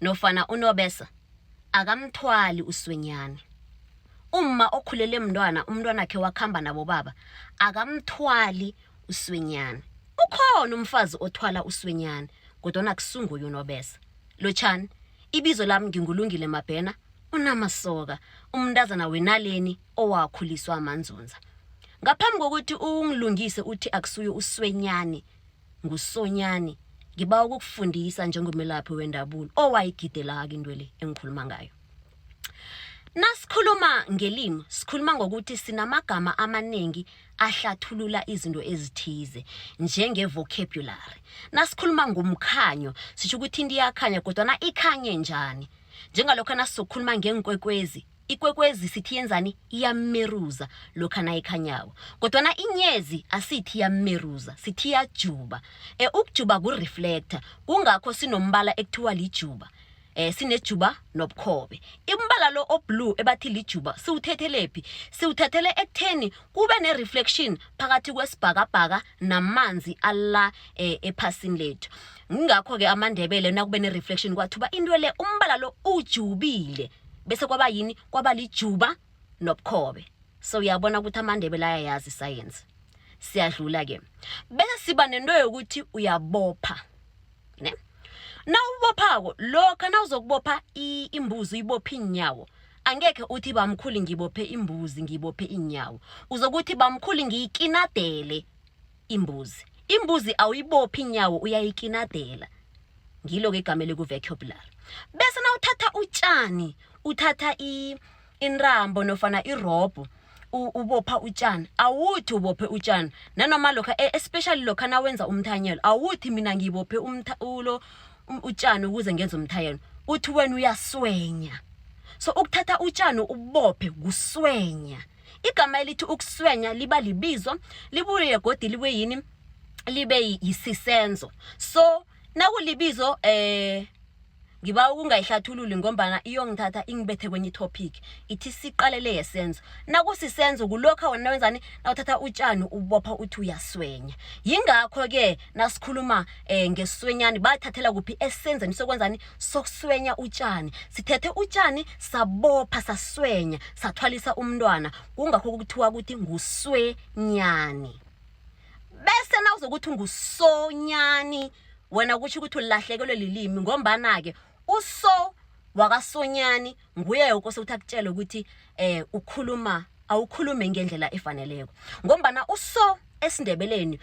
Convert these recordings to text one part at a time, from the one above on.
nofana unobesa akamthwali uswenyana umma okhulele mntwana umntwanakhe wakhamba nabobaba akamthwali uswenyana ukhona umfazi othwala uswenyana kodwana kusunguye unobesa lotshani ibizo lami ngingulungile mabhena unamasoka umntazana wenaleni owakhuliswa amanzunza ngaphambi kokuthi ungilungise uthi akusuye uswenyane ngusonyani ngiba ukukufundisa njengomelaphi wendabulo owayigidelaka into le engikhuluma ngayo nasikhuluma ngelimi sikhuluma ngokuthi sinamagama amaningi ahlathulula izinto ezithize njengevocabulary nasikhuluma ngomkhanyo sisho ukuthi into iyakhanya kodwana ikhanye njani njengalokho nasizokhuluma ngeenkwekwezi ikwekwezi sithi yenzani iyameruza lokha nayikhanyako kodwana inyezi asithi iyameruza sithi iyajuba e, ukujuba kureflector kungakho sinombala ekuthiwa lijuba eh sinejuba nobukhobe imbala lo oblue ebathi lijuba siwuthethelephi siwuthathele ekutheni kube nereflection phakathi kwesibhakabhaka namanzi alla eh, ephasini lethu ngingakho-ke amandebele nakube nereflection kwathuba into le umbala lo ujubile bese kwaba yini kwaba lijuba nobukhobe so uyabona ukuthi amandebele ayayazi isayensi siyadlula ke bese siba nento yokuthi uyabopha ne nawubophako lokha nawuzokubopha imbuzi uyibopha iinyawo angekhe uthi bamkhulu ngibophe imbuzi ngibophe iinyawo uzokuthi bamkhulu ngiyikinadele imbuzi imbuzi awuyibophi inyawo uyayikinadela ngilo-ke igama elikuvecubular bese na uthatha utshani uthatha inrambo nofana irobho ubopha utshani awuthi ubophe utshani nanoma lokha e, especially lokha nawenza umthanyelo awuthi mina ngibophe ulo um, utshani ukuze ngenze umthayelo uthi wena uyaswenya so ukuthatha utshani ubophe kuswenya igama elithi ukuswenya liba libizo libuye godi libe yini libe yisisenzo so nakulibizo eh ngiba ukungayihlathululi ngombana iyongithatha ingibethe kwenye itopic ithi siqalele yesenzo nakusisenzo kulokha wena wenzani nawuthatha utshani ubopha uthi uyaswenya yingakho-ke nasikhuluma um eh, ngeswenyani bathathela kuphi esenzeni sokwenzani sokuswenya utshani sithethe utshani sabopha saswenya sathwalisa umntwana kungakho kuthiwa ukuthi nguswenyani bese nawuzokuthi ngusonyani wena kutsho ukuthi ulahlekelwe lilimi ngombana-ke uso wakasonyani nguye yoke osekuthi akutshele ukuthi um ukhuluma awukhulume ngendlela efaneleko ngombana uso esindebeleni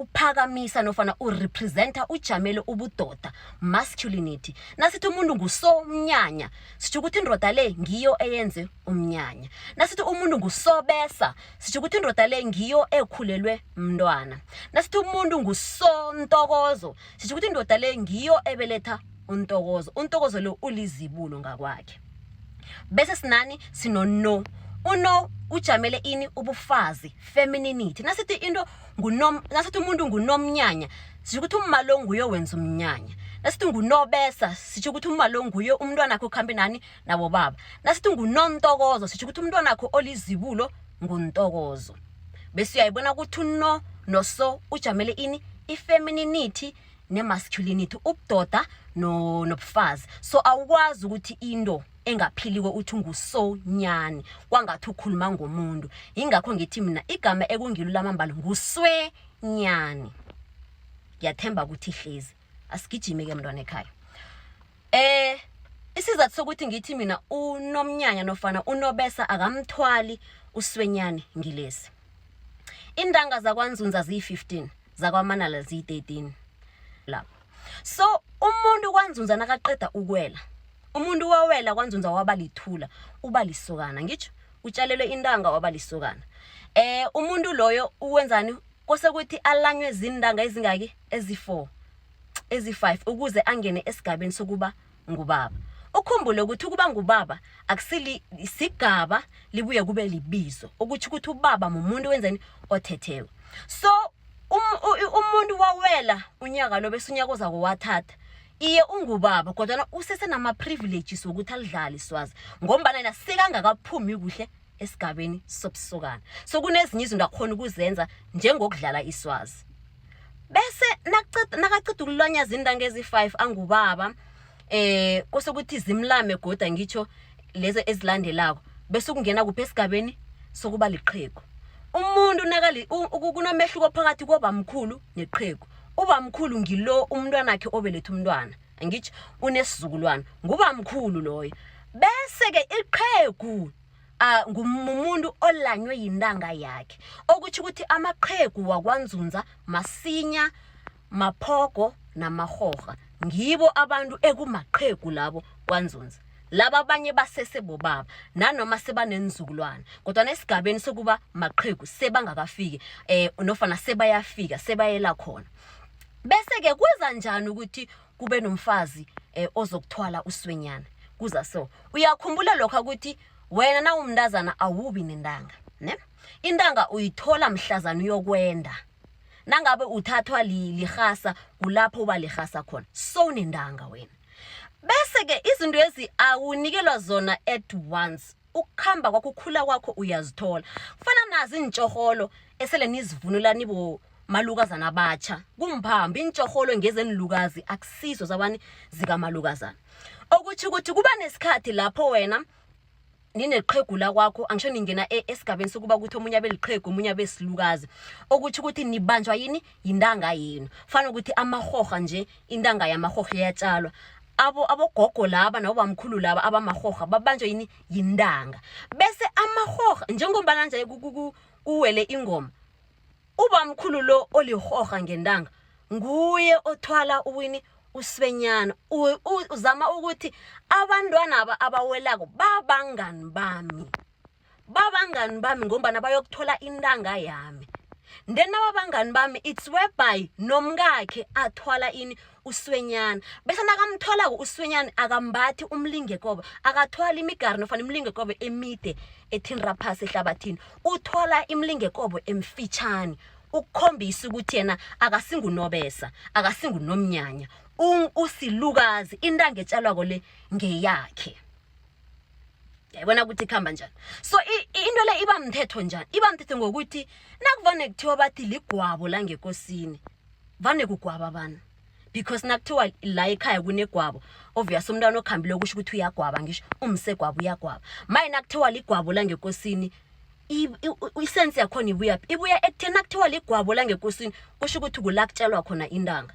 uphakamisa nofana urepresenta ujamele ubudoda masculinity nasithi umuntu ngusomnyanya sitho ukuthi indoda le ngiyo eyenze umnyanya nasithi umuntu ngusobesa sitho ukuthi indoda le ngiyo ekhulelwe mntwana nasithi umuntu ngusontokozo sisho ukuthi indoda le ngiyo ebeletha untokozo untokozo lo ulizibulo ngakwakhe bese sinani sinono uno ujamele ini ubufazi femininity nasithi into ngunom nasithi umuntu ngunomnyanya sisho ukuthi umma lo nguye wenza umnyanya nasithi ngunobesa sisho ukuthi umma lo nguye umntwana wakhe ukhambe nani nabobaba nasithi ngunomtokozo sitho ukuthi umntwana akho olizibulo nguntokozo bese uyayibona ukuthi uno noso ujamele ini ifemininity nemasculinity ubudoda nobufazi no so awukwazi ukuthi into engaphiliko uthi ungusonyani kwangathi ukhuluma ngomuntu yingakho ngithi mina igama ekungilo lamambala nguswenyani ngiyathemba ukuthi hlezi asigijime ke mntwana ekhaya eh isizathu sokuthi ngithi mina unomnyanya nofana unobesa akamthwali uswenyane ngilesi intanga zakwanzunza ziyi-15 zakwamanala ziyi-13 lapho so umuntu kwanzunza nakaqeda ukwela umuntu wawela kwanzunza waba lithula uba lisokana ngitsho utshalelwe intanga waba lisokana eh umuntu loyo uwenzani kose kuthi alanywe zintanga ezingaki ezi-4 ezi-5 ukuze angene esigabeni sokuba ngubaba ukhumbule ukuthi ukuba ngubaba akusisigaba libuye kube libizo ukuthi ukuthi ubaba mumuntu wenzeni othethewe so um, umuntu wawela unyaka lo bese unyaka ozako wathatha iye ungubaba kodwana usesenama-privileges wokuthi alidlale iswazi ngombana yena sekangakaphumi kuhle esigabeni sobusokana so kunezinye izinto akhona ukuzenza njengokudlala iswazi bese nakaqeda ukulwanyaza iintanga ezi-five angubaba eh kose ukuthi zimlame goda ngitsho lezo ezilandelako bese ukungena kuphi esigabeni sokuba liqhegu umuntu nakali kunomehluko phakathi kobamkhulu neqhegu ubamkhulu ngilo umntwanakhe obeletha umntwana angitsho unesizukulwana nguba mkhulu loyo bese-ke iqhegu uh, ngumuntu olanywe yintanga yakhe okutsho ukuthi amaqhegu wakwanzunza masinya maphogo namahorha ngibo abantu ekumaqhegu labo kwanzunza laba abanye basese bobaba nanoma sebanenzukulwana kodwa nesigabeni sokuba maqhegu sebangakafiki eh nofana sebayafika sebayela khona bese-ke kwenza njani ukuthi kube nomfazi um ozokuthwala uswenyana kuza so uyakhumbula lokho ukuthi wena nawumntazana awubi nentanga ne intanga uyithola mhlazana uyokwenda nangabe uthathwa lirhasa kulapho uba lirhasa khona sowunentanga wena bese-ke izinto ezi awunikelwa zona at once ukukhamba kwakho ukhula kwakho uyazithola kufana nazi iintshorholo esele nizivunula nibo malukazana abatsha kumphambi iintshorholo ngezenilukazi akusizo zabani zikamalukazana okutsho ukuthi kuba nesikhathi lapho wena nineqhegula kwakho angisho ningena e-, esigabeni sokuba ukuthi omunye abe liqhegu omunye abe silukazi okutsho ukuthi nibanjwa yini yintanga yenu fanele ukuthi amahorha nje intanga yamarhorho iyatjalwa abo abogogo laba nabobamkhulu laba abamarhorha babanjwa yini yintanga bese amarhorha njengombana nje kuwele ingoma ubamkhulu lo olirhorha ngentanga nguye othwala uwini uswenyana uzama ukuthi abantwana aba abawelako babangani bami babangani bami ngombana bayokuthola intanga yami then nababangani bami it's whereby nomkakhe athwala ini uswenyana bese nakamtholako uswenyana akambathi umlingekobe akathwala imigari nofana imlingekobe emide ethinra phasi ehlabathini uthwala imlingekobe emfitshane ukukhombisa ukuthi yena akasingunobesa akasingunomnyanya usilukazi intanga etshalwako le ngeyakhe yayibona ukuthi ikhamba njani so into le iba mthetho njani iba mthetho ngokuthi nakuvane kuthiwa bathi ligwabo la ngekosini vane kugwaba abantu because nakuthiwa la ekhaya kunegwabo obvious umntwana okhambile okusho ukuthi uyagwaba ngisho umsegwabo uyagwaba maye nakuthiwa ligwabo la ngekosini isense yakhona ibuyaphi ibuya ekutheni nakuthiwa ligwabo la ngekosini kusho ukuthi kulakutshelwa khona intanga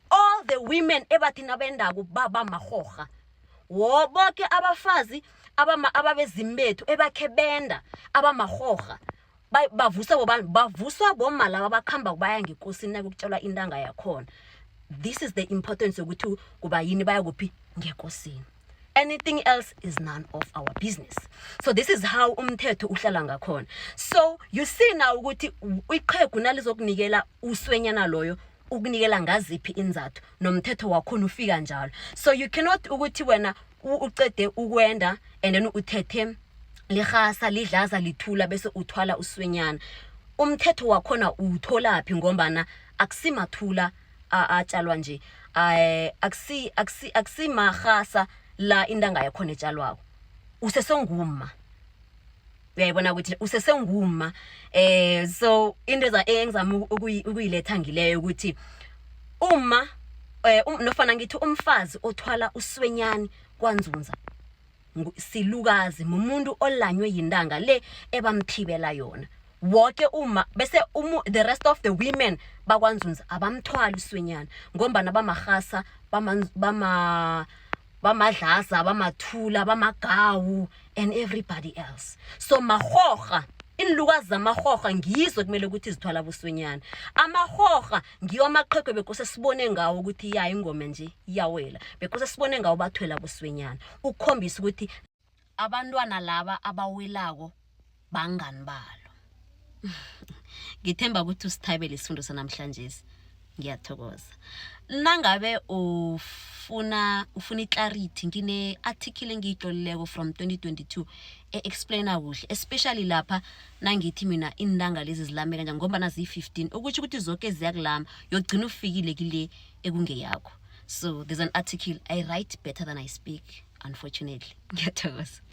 all the women ebathi nabendako baba marhorha wo boke abafazi ababezimu bethu ebakhe benda abamarhorha bavuswa bobani bavuswa boma laba bakuhamba kubaya ngekosini nakukutshelwa intanga yakhona this is the importance yokuthi kuba yini baya kuphi ngekosini anything else is none of our business so this is how umthetho uhlala ngakhona so you see now ukuthi iqhegu nalizokunikela uswenyana loyo ukunikela ngaziphi inzathu nomthetho wakhona ufika njalo so you cannot ukuthi wena ucede ukwenda and then uthethe lirhasa lidlaza lithula bese uthwala uswenyana umthetho wakhona uwutholaphi ngombana akusimathula atjalwa nje um akusi akusi akusimarhasa la intanga yakhona etshalwako usesengumma uyayibona ukuthi usesengumma eh so into engizama ukuyiletha ngileyo ukuthi uma eh um, nofana ngithi umfazi othwala uswenyani kwanzunza silukazi mumuntu olanywe yintanga le ebamthibela yona woke uma bese umu, the rest of the women bakwanzunza abamthwali uswenyana ngombana bamarhasa bama bamadlaza bamathula bamagawu and everybody else so marhorha iinlukazi zamarhorha ngizo kumele ukuthi zithwala buswenyana amarhorha ngiwo amaqhego bekose sibone ngawo ukuthi ya ingoma nje iyawela bekose sibone ngawo bathwela boswenyana ukukhombisa ukuthi abantwana laba abawelako bangani balo ngithemba ukuthi usithabele isifundo sanamhlanje ngiyathokoza nangabe ufuna ufuna iclarity ngine-article engiyitlolileko from 2022 e-explaina kuhle especially lapha nangithi mina iintanga lezi zilame kanjani ngombana ziyi-15 ukutho ukuthi zoke ziyakulama yogcina ufikile kile ekungeyakho so there's an article i write better than i speak unfortunately ngiyathokoza